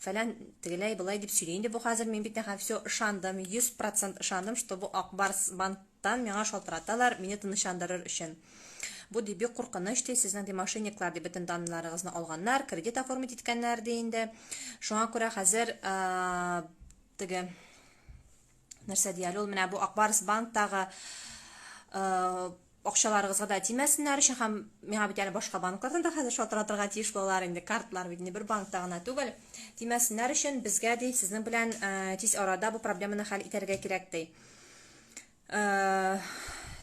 Фәлән, тегеләй, болай дип сөйли инде бу хәзер, мин бит нәхәл всё ышандым, йөз процент ышандым, что бу Ак Барс банктан миңа шалтыраталар, мине тынычландырыр өчен. Бу, ди, бик куркыныч, ди, сезнең, ди, мошенниклар, ди, бөтен данныйларыгызны алганнар, кредит оформить иткәннәр, ди инде. Шуңа күрә хәзер, теге. нәрсә дияли ул менә бу акбарс банктагы акчаларыгызга да тимәсеннәр өчен һәм миңа бит әле башка банклардан да хәзер шалтыратырга тиеш булалар инде картлар бит инде бер банкта гына түгел тимәсеннәр өчен безгә ди сезнең белән э, тиз арада бу проблеманы хәл итәргә кирәк ди э,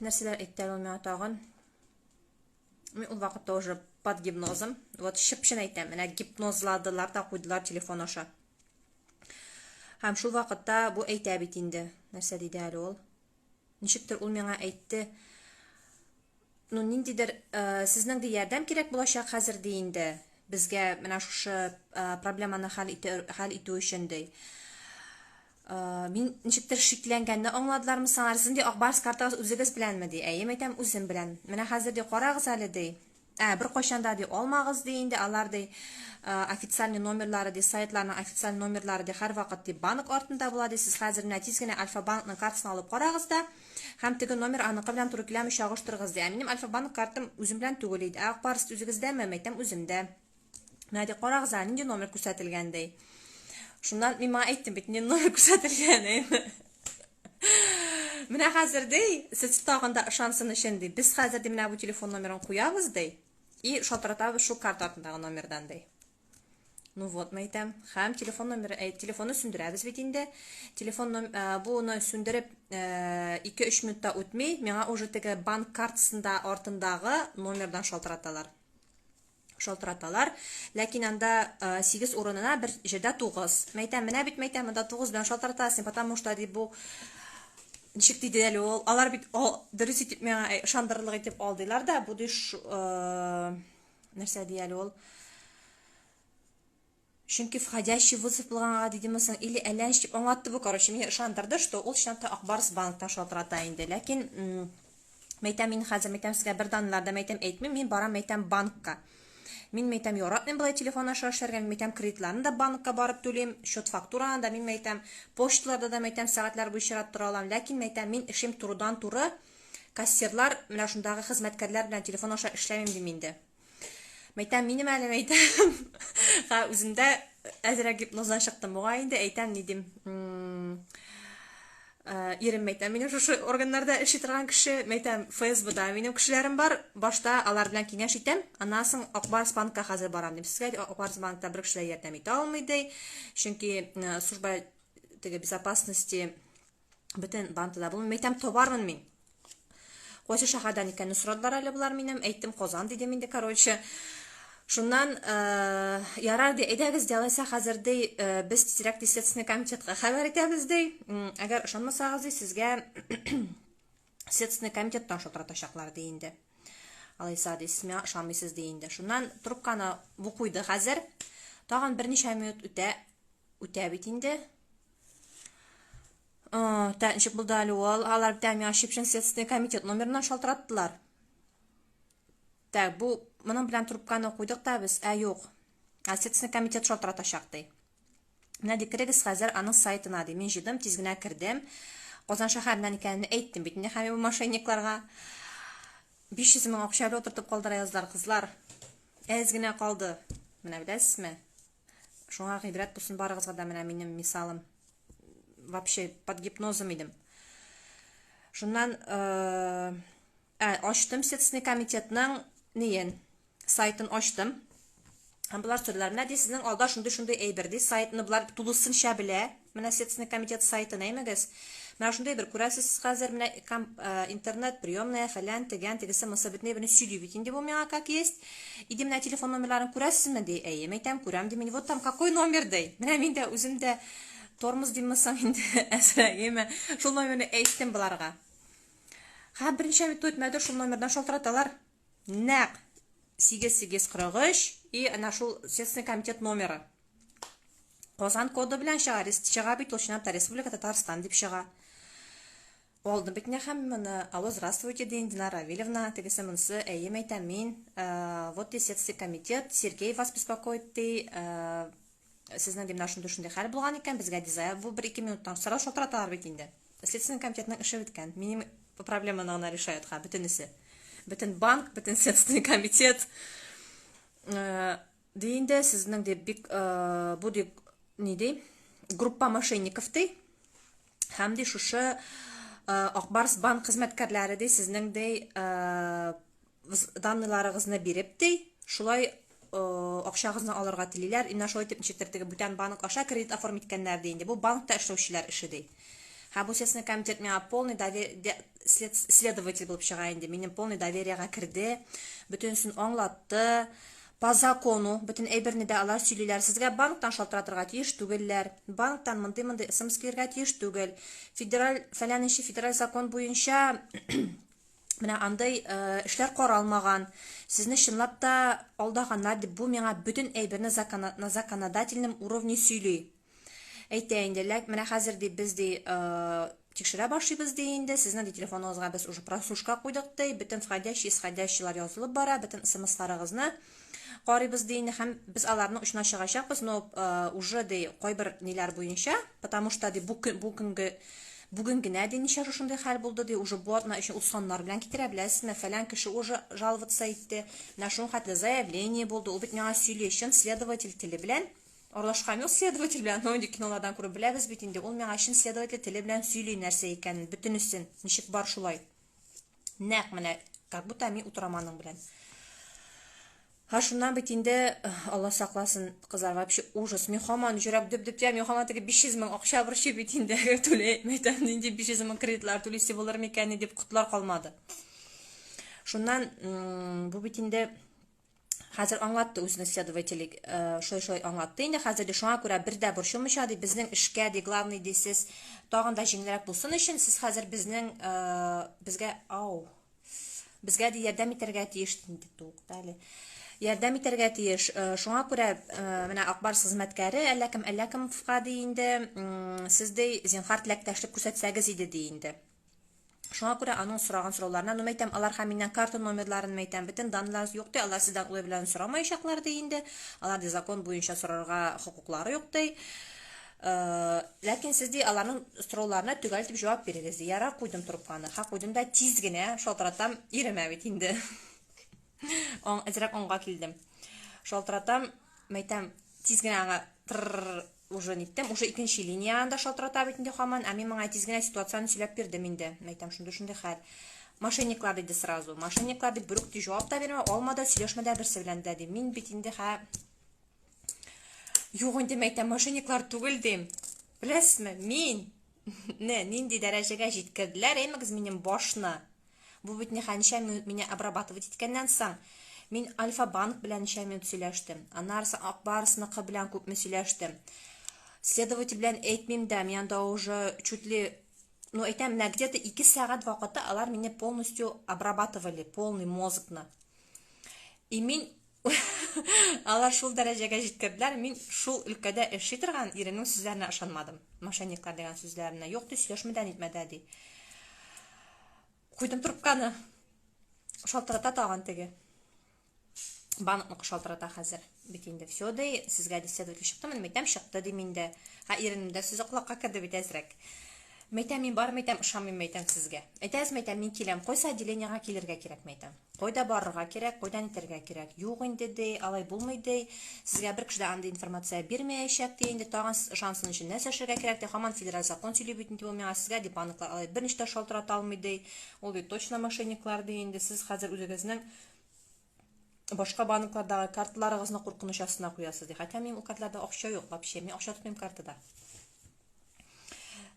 нәрсәләр әйтте ул миңа тагын Мин ул вакытта уже под гипнозом. Вот чып-чын әйтәм, менә гипнозладылар да куйдылар телефон аша. Һәм шул вакытта бу әйтә бит инде. Нәрсә диде әле ул? Ничектер ул миңа әйтте. Ну, ниндидер э, сезнең дә ярдәм кирәк булачак хәзер ди инде. Безгә менә шушы э, проблеманы хәл итү, хәл итү өчен ди. Э, мин ничектер шикләнгәнне аңладылармы саңар сезнең ди ак барс картагыз үзегез беләнме ди әйе мәйтәм үзем белән менә хәзер ди карагыз әле ди ә бер кайчанда ди алмагыз ди инде алар ди э, официальный номерлары ди сайтларның официаль номерлары ди һәрвакыт ди банк артында була ди сез хәзер менә тиз генә альфа банкның картасын алып карагыз да һәм теге номер аныкы белән туры киләме чагыштырыгыз ди ә минем альфа банк картам үзем белән түгел иде ә ак барс үзегездәме мәйтәм үземдә Надя, карагыз әле, нинди номер күрсәтелгән ди. Шуннан мин моңа әйттем бит, нинди номер күрсәтелгән инде. Менә хәзер ди, сез тагын да ышансын өчен ди, без хәзер ди менә бу телефон номерын куябыз ди. И шалтыратабыз шул карта артындагы номердан ди. Ну вот, мы әйтәм. Хәм телефон номеры, әй, телефонны сүндерәбез бит инде. Телефон ном, ә, буны сүндереп, 2-3 минутта үтми, миңа уже теге банк картасында артындагы номердан шалтыраталар. шалтыраталар. Ләкин анда 8 урынына бер җирдә 9. Мәйтәм, менә бит мәйтәм, монда 9 белән шалтыратасың, потому что ди бу ничек диде әле ул? Алар бит дөрес итеп миңа э, ышандырырлык итеп алдылар да, бу ди нәрсә ди әле ул? Чөнки входящий вызов булган ага дидеме соң, или әлләнч дип аңлатты бу, короче, мине ышандырды, что ул чынлап та Акбарс банктан шалтырата инде. Ләкин мәйтәм мин хәзер мәйтәм сезгә бер данларда мәйтәм әйтмим, мин барам мәйтәм банкка. Мин мәйтәм яратмыйм болай телефон аша эшләргә, мин мәйтәм кредитларны да банкка барып түлим, счет фактураны да мин мәйтәм, почталарда да мәйтәм сәгатьләр буе чират тора алам, ләкин мәйтәм мин эшем турыдан-туры кассирлар, менә шундагы хезмәткәрләр белән телефон аша эшләмим дим инде. Мәйтәм, минем әле мәйтәм. Ха, үземдә әзрәк гипноздан чыктым. Буга инде әйтәм ни дим. Э, ирем мәйтәм, минем шушы органнарда эшли торган кеше, мәйтәм, ФСБда минем кешеләрем бар. Башта алар белән киңәш итәм. Аннан соң Акбарс банкка хәзер барам дип сезгә. Акбарс банкта бер кешеләр ярдәм итә алмый ди. Чөнки э, служба теге безопасности бөтен бантыда булмый. Мин әйтәм, табармын мин. Кайсы шәһәрдән икәнне сорадылар әле болар минем. Әйттем, Казан дидем инде, короче. Шуннан э, ярар ди, әйдәгез ди, алайса хәзер ди, э, без тизрәк ди следственный комитетка хәбәр итәбез ди. Әгәр ышанмасагыз ди, сезгә следственный комитеттан шалтыратачаклар ди инде. Алайса ди, сез миңа ышанмыйсыз ди инде. Шуннан трубканы бу куйды хәзер. Тагын берничә минут үтә, үтә бит инде. Тәнчеп булды әле ул. Алар битәм яшип чын следственный комитет номерына шалтыраттылар. Так, бу моның белән трубканы куйдык та без, ә юк. Ә следственный комитет шалтыратачак ди. Менә ди кирегез хәзер аның сайтына ди. Мин җыйдым, тиз генә кердем. Казан шәһәреннән икәнен әйттем бит инде һәм мошенникларга. 500 мең акча әле утыртып калдыра язлар, кызлар. Әз генә калды. Менә беләсезме? Шуңа гыйбрәт булсын барыгызга да менә минем мисалым. Вообще под гипнозом идем. Шуннан э, ә, ачтым Следственный комитетның неен, сайтын ачтым. Һәм болар сөрләр. Менә ди сезнең алда шундый-шундый әйбер ди, сайтны болар тулысынча белә, Менә Следственный комитет сайтын әймәгез. Менә шундый бер күрәсез сез хәзер, менә интернет, приемная, фәлән, тегән, тегесе, мособитный, бөне сөйли бит инде бу миңа как есть. Иде менә телефон номерларын күрәсезме, ди. Әйе, мәйтәм, күрәм, ди мин. Вот там какой номер, ди. Менә мин дә үзем дә тормоз димме соң инде, әзрәгеме. Шул номерны әйттем боларга. Хә, берничә минут үтмәде, шул номердан шалтыраталар. Нәк 8843 и ана шул Следственный комитет номеры. Казан коды белән чыга, чыга бит ул чынлап та Республика Татарстан дип чыга. Алдым бит менә һәм моны. Алло, здравствуйте, дин Динара Равильевна, тегесе монсы, әйем әйтәм мин. Э, вот и Следственный комитет, Сергей вас беспокоит, ди. Э, Сезнең гимнашын төшендә хәл булган икән, безгә дизайр бу бер ике минуттан сорау шалтыраталар бит инде. Следственный комитетның эше беткән. Минем проблеманы гына решают ха бөтенесе. Бөтен банк, бөтен следственный комитет. Э, ди инде сезнең дип бик э, бу дип ни ди? Группа мошенников ди. Һәм ди шушы Акбарс банк хезмәткәрләре ди сезнең ди данныйларыгызны биреп ди, шулай акчагызны алырга телиләр. Инна шулай итеп ничектер теге бүтән банк аша кредит оформить иткәннәр ди инде. Бу банкта эшләүчеләр эше ди. Һәм бу Следственный комитет миңа полный доверие следователь булып чыга инде. Минем полный довериега керде, бөтенесен аңлатты. По закону, бөтен әйберне дә алар сөйлиләр, сезгә банктан шалтыратырга тиеш түгелләр, банктан мондый-мондый смс килергә тиеш түгел, федераль, фәләненче федераль закон буенча менә андый эшләр каралмаган, сезне чынлап та алдаганнар дип, бу миңа бөтен әйберне на законодательном уровне сөйли. әйтә инде ләк менә хәзер ди без ди тикшерә башлыйбыз ди инде сезнең ди телефоныгызга без уже прослушка куйдык ди бөтен входящий исходящийлар язылып бара бөтен смсларыгызны карыйбыз ди инде һәм без аларны очына чыгачакбыз но уже ди кайбер ниләр буенча потому что ди бу бүгенге бүген генә ди ничә шушындый хәл булды ди уже бу атна өчен узганнар белән китерә беләсезме фәлән кеше уже жаловаться итте менә шуның хәтле заявление булды ул бит миңа сөйли чын следователь теле белән Аралашкан юк следователь белән, но инде кинолардан күреп беләбез бит инде, ул миңа чын следователь теле белән сөйли нәрсә икәнен, бөтенесен, ничек бар шулай. Нәкъ менә, как будто мин утырам аның белән. Һа шуннан бит инде э, Алла сакласын, кызлар, вообще ужас. Мин хаман җөрәк дөп-дөп тия, мин хаман теге 500 мең акча борчы бит инде түләй әйтәм, нинди 500 мең кредитлар түлисе булыр микән дип котлар калмады. Шуннан бу бит инде Хәзер аңлатты үзенең следователе, э, шулай-шулай аңлатты. Инде хәзер ди шуңа күрә бер дә борчылмыйча ди, безнең эшкә ди, главный ди сез тагын да җиңелрәк булсын өчен сез хәзер безнең э, безгә ау безгә ди ярдәм итәргә тиеш инде тукта әле. Ярдәм итәргә тиеш. Э, шуңа күрә менә Акбарс хезмәткәре әллә кем әллә кем фка ди инде, сез ди зинхар теләктәшлек күрсәтсәгез иде ди инде. Шуңа күрә аның сораган сорауларына, ну мәйтәм, алар һәм миннән карта номерларын мәйтәм, бөтен данларыз юк ди, алар сездән улы белән сорамаячаклар ди инде, алар ди закон буенча сорарга хокуклары юк ди. Э, ләкин сез ди аларның сорауларына төгәл итеп җавап бирегез ди. Яра куйдым трубканы, ха куйдым да тиз генә шалтыратам, иремә бит инде. Аң әзрәк аңга килдем. Шалтыратам, мәйтәм, тиз генә аңа Уже ниттем, уже икенче линияне дә шалтырата бит инде хаман, ә мин моңа тиз генә ситуацияне сөйләп бирдем инде. Мәйтәм, шундый шундый хәл. Мошенниклар диде сразу. Мошенниклар дип берүк тиз җавап та бирмә, алма да, сөйләшмә дә берсе белән дә ди. Мин бит инде хә Юк инде мәйтәм, мошенниклар түгел дим. Беләсезме, мин не нинди дәрәҗәгә җиткерделәр, әймәгез минем башны. Бу бит нихәнчә минут мине обрабатывать иткәннән соң, мин Альфа-банк белән ничә минут сөйләштем, аннарысы Ак Барсныкы белән күпме сөйләштем. Следователь белән әйтмим дә, мин анда уже чуть ли, ну әйтәм, менә где-то ике сәгать вакыты алар мине полностью обрабатывали, полный мозгны. И мин Алар шул дәрәҗәгә җиткерделәр, мин шул өлкәдә эшли торган иренең сүзләренә ышанмадым. Мошенниклар дигән сүзләренә юк ди, сөйләшмәдә нитмәдә ди. Куйдым трубканы. Шалтырата тагын теге. Банкны шалтырата хәзер. Бит инде все ди, сезгә ди следователь чыктымы? Мәйтәм чыкты ди миндә. Ха иренем дә сүзе колакка керде бит әзрәк. Мәйтәм мин бар мәйтәм ышанмыйм мәйтәм сезгә. Әйтәсез мәйтәм мин киләм. Кайсы отделениегә килергә кирәк мәйтәм. Кайда барырга кирәк, кайда нитәргә кирәк? Юк инде, ди, алай булмый, ди. Сезгә бер кеше дә андый информация бирмәячәк, ди. Инде тагын сез ышансын өчен нәрсә эшләргә кирәк, ди. Хаман федераль закон сөйли бит инде ул миңа. Сезгә, ди, банклар алай берничә дә шалтырата алмый, ди. Ул бит точно мошенниклар, ди. Инде сез хәзер үзегезнең башка банклардагы карталарыгызны куркыныч астына куясыз, ди. Хәтта минем ул карталарда акча юк вообще. Мин акча тотмыйм картада.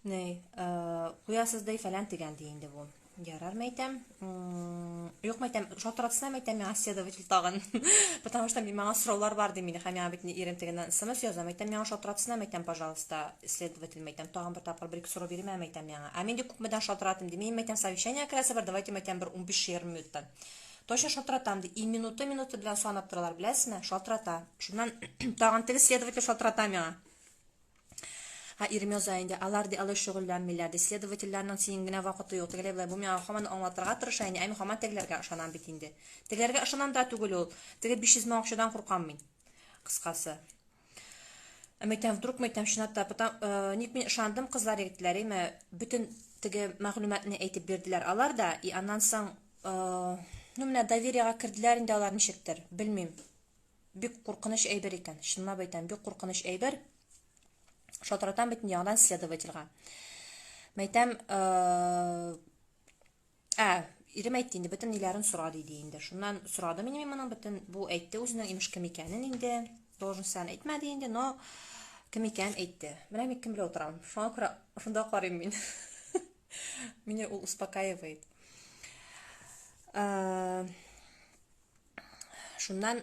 Ней, э, куясыз ди фәлән дигән ди инде бу. Ярар мәйтәм. Юк мәйтәм, шалтыратсына мәйтәм миңа следователь тагын. Потому что миңа сораулар бар ди мине, һәм миңа бит ирем тегеннән смс яза, мәйтәм миңа шалтыратсына мәйтәм, пожалуйста, следователь мәйтәм, тагын бер тапкыр бер ике сорау бирмә мәйтәм миңа. Ә мин дә күпмедән шалтыратым ди. Мин мәйтәм совещание керәсе бар, давайте мәйтәм бер 15-20 минуттан. Точно шалтыратам ди. И минуты минуты белән санап торалар, беләсезме? Шалтырата. Шуннан тагын теге следователь шалтырата миңа. Ә ирем яза инде, алар, ди, алай шөгыльләнмиләр, ди, следовательләрнең синең генә вакыты юк, тегеләй болай, бу миңа һаман аңлатырга тырыша инде, ә мин һаман тегеләргә ышанам бит инде. Тегеләргә ышанам да түгел ул, теге 500 мең акчадан куркам мин, кыскасы. Ә мәйтәм, вдруг мәйтәм, чынлап та, потом, э, ник мин ышандым, кызлар, егетләр, әйме, бөтен теге мәгълүматны әйтеп бирделәр алар да, и аннан соң, э, ну, менә довериега керделәр инде алар ничектер, белмим. Бик куркыныч әйбер икән, чынлап әйтәм, бик куркыныч әйбер. Шалтыратам бит яңадан следовательга. Мәйтәм, ә, ирем әйтте инде, бөтен ниләрен сора диде инде. Шуннан сорадым инде мин моның бөтен, бу әйтте үзенең имеш кем икәнен инде. Должностен әйтмәде инде, но кем икән әйтте. Менә мин кем белән утырам. Шуңа күрә шунда карыйм мин. Мине ул успокаивает. Ә, Шуннан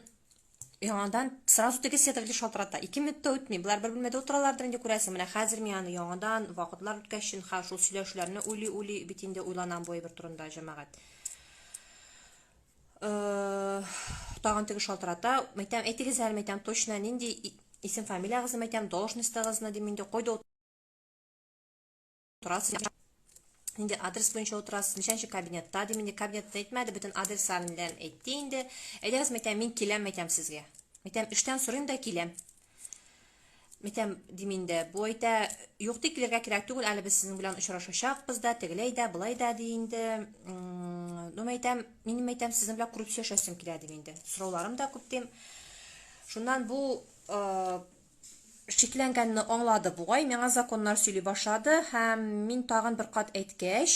яңадан сразу теге сетовли шалтырата. Ике минут та үтми, болар бер бүлмәдә утыралардыр инде күрәсең. Менә хәзер мин аны яңадан вакытлар үткәч шин ха шул сөйләшүләрне уйли уйли бит инде уйланам бу әйбер турында җәмәгать. Э, тагын теге шалтырата. Мәйтәм, әйтегез әле, мәйтәм, точно нинди исем фамилиягызны мәйтәм, должностьтагызны дим инде, койда торасыз инде адрес буенча утырасыз ничәнче кабинетта дим инде кабинетны әйтмәде бөтен адресларын белән әйтте инде әйдәгез мәйтәм мин киләм мәйтәм сезгә мәйтәм эштән сорыйм да киләм мәйтәм дим инде бу әйтә юк ди килергә кирәк түгел әле без сезнең белән очрашачакбыз да тегеләй дә былай да ди инде ну мәйтәм минем мәйтәм сезнең белән күреп сөйләшәсем килә дим инде сорауларым да күп дим шуннан бу шикләнгәнне аңлады бугай, миңа законнар сөйли башлады һәм мин тагын бер кат әйткәч,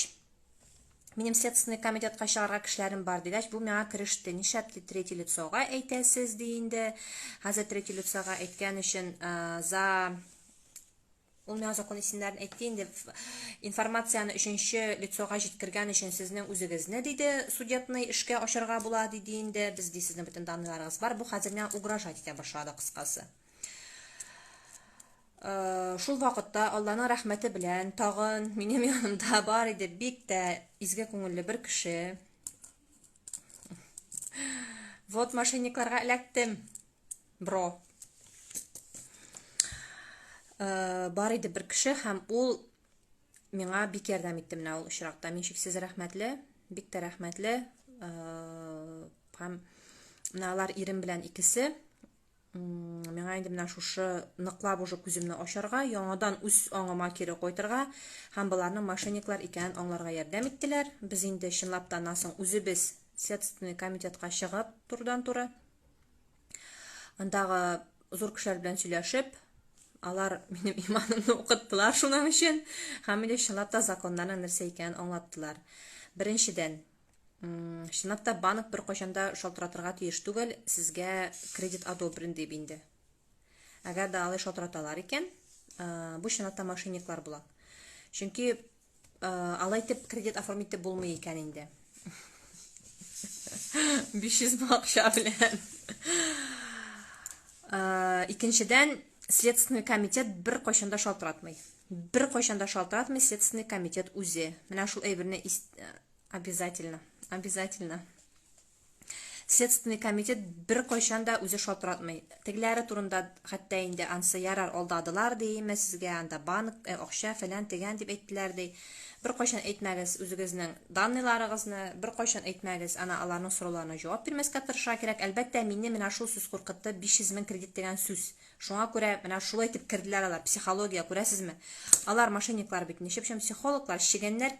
минем следственный комитетка чыгарга кешеләрем бар дигәч, бу миңа кереште. Нишләп ди третий лицога әйтәсез ди инде. Хәзер третий лицога әйткән өчен за Ул миңа закон исемнәрен әйтте инде, информацияне өченче лицога җиткергән өчен сезнең үзегезне, диде, судетный эшкә ачарга була, диде инде. Без ди сезнең бөтен данныйларыгыз бар. Бу хәзер миңа угрожать итә башлады кыскасы. Э, шул вакытта Алланың рәхмәте белән тагын минем янымда бар иде бик тә изге күңелле бер кеше. Вот мошенникларга эләктем. Бро. Э, бар иде бер кеше һәм ул миңа бик ярдәм итте менә ул очракта. Мин шиксез рәхмәтле, бик тә рәхмәтле. Э, һәм менә алар ирем белән икесе миңа инде менә шушы ныклап уже күземне ачарга, яңадан үз аңыма кире кайтырга һәм боларның мошенниклар икәнен аңларга ярдәм иттеләр. Без инде чынлап та аннан соң үзебез Следственный комитетка чыгып турыдан-туры андагы зур кешеләр белән сөйләшеп, алар минем иманымны укыттылар шуның өчен, һәм мине чынлап та законнарның нәрсә икәнен аңлаттылар. Беренчедән, чынлап та банк бер кайчанда шалтыратырга тиеш түгел, сезгә кредит одобрен дип инде. Әгәр дә алай шалтыраталар икән, бу чынлап та мошенниклар була. Чөнки Алай итеп кредит оформить итеп булмый икән инде. 500 мең акча белән. Икенчедән, следственный комитет бер кайчанда шалтыратмый. Бер кайчанда шалтыратмый следственный комитет үзе. Менә шул әйберне обязательно, обязательно Следственный комитет бер кайчан да үзе шалтыратмый. Тегеләре турында хәтта инде ансы ярар алдадылар дейме сезгә анда банк, э, акча фәлән тегән дип әйттеләр ди. Бер кайчан әйтмәгез үзегезнең данныйларыгызны, бер кайчан әйтмәгез. Ана аларның сорауларына җавап бирмәскә тырыша кирәк. Әлбәттә, мине менә шул сүз куркытты, 500 мең кредит дигән сүз. Шуңа күрә менә шулай итеп керделәр алар, психология, күрәсезме? Алар мошенниклар бит, ничек өчен психологлар, чегәннәр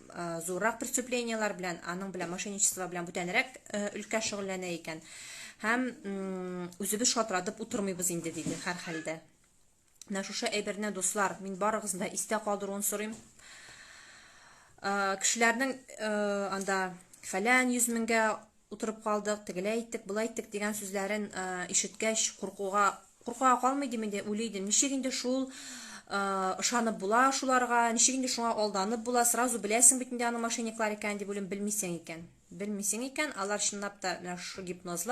зуррак преступлениеләр белән, аның белән мошенничество белән бүтәнрәк өлкә шөгыльләнә икән. Һәм үзебез шатыратып утырмыйбыз инде диде һәр хәлдә. Менә шушы әйберне, дуслар, мин барыгызны да истә калдыруын сорыйм. Кешеләрнең анда фәлән 100 меңгә утырып калдык, тегеләй иттек, болай иттек дигән сүзләрен э, ишеткәч, куркуга куркуга калмый дим инде, уйлый идем. Ничек инде шул ышанып э, була шуларга, ничек инде шуңа алданып була, сразу беләсең бит инде аның мошенниклар икәнен дип уйлыйм, белмисең икән. Белмисең икән, алар чынлап та менә шушы гипнозлар